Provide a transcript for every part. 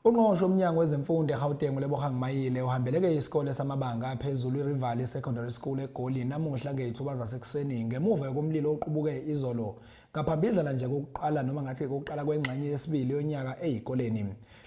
Ungqongqoshe uMnyango wezeMfundo eGauteng uLebogang Mayile uhambeleke isikole samabanga aphezulu iRivali Secondary School eGoli namuhla ngeyithuba zasekuseni ngemuva yokumlilo oqubuke izolo ngaphambidlana nje kokuqala noma ngathi kokuqala kwengxenye yesibili yonyaka eyikoleni.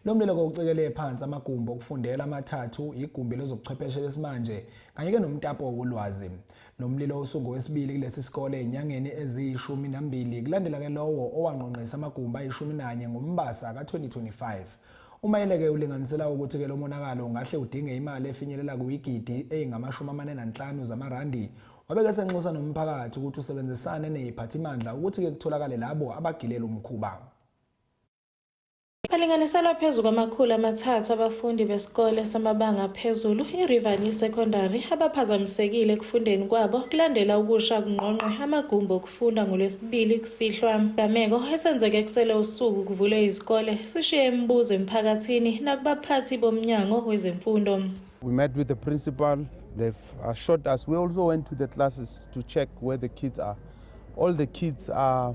Lo mlilo kowucekele phansi amagumbi okufundela amathathu, igumbi lezobuchwepheshe besimanje kanye-ke nomtapo wolwazi. Lo mlilo usungowesibili kulesi sikole ezinyangeni eziyishumi nambili kulandela ke lowo owangqongqisa amagumbi ayishumi nanye ngoMbasa ka-2025. UMayeleke ulinganisela ukuthi ke lo monakalo ungahle udinge imali efinyelela kuyigidi eyingamashumi amane nanhlanu zamarandi wabeke senxusa nomphakathi ukuthi usebenzisane neziphathimandla ukuthi-ke kutholakale labo abagilele umkhuba. Balinganiselwa phezu kwamakhulu amathathu abafundi besikole samabanga aphezulu iRiverlea Secondary abaphazamisekile ekufundeni kwabo kulandela ukusha kungqongqe amagumbi okufunda ngoLwesibili kusihlwa. Gameko esenzeke kusele usuku kuvulwe izikole sishiye imibuzo emphakathini nakubaphathi bomnyango wezemfundo. We met with the principal. They've assured us. We also went to the classes to check where the kids are. All the kids are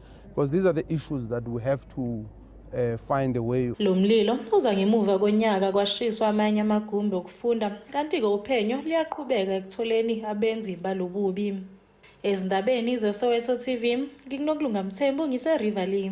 because these are the issues that we have to uh, find a way. Lo mlilo uza ngemuva konyaka kwashiswa amanye amagumbi okufunda kanti-ke uphenyo liyaqhubeka ekutholeni abenzi balobubi. Ezindabeni zeSoweto TV, ngikunokulunga Mthembu ngise-Riverlea.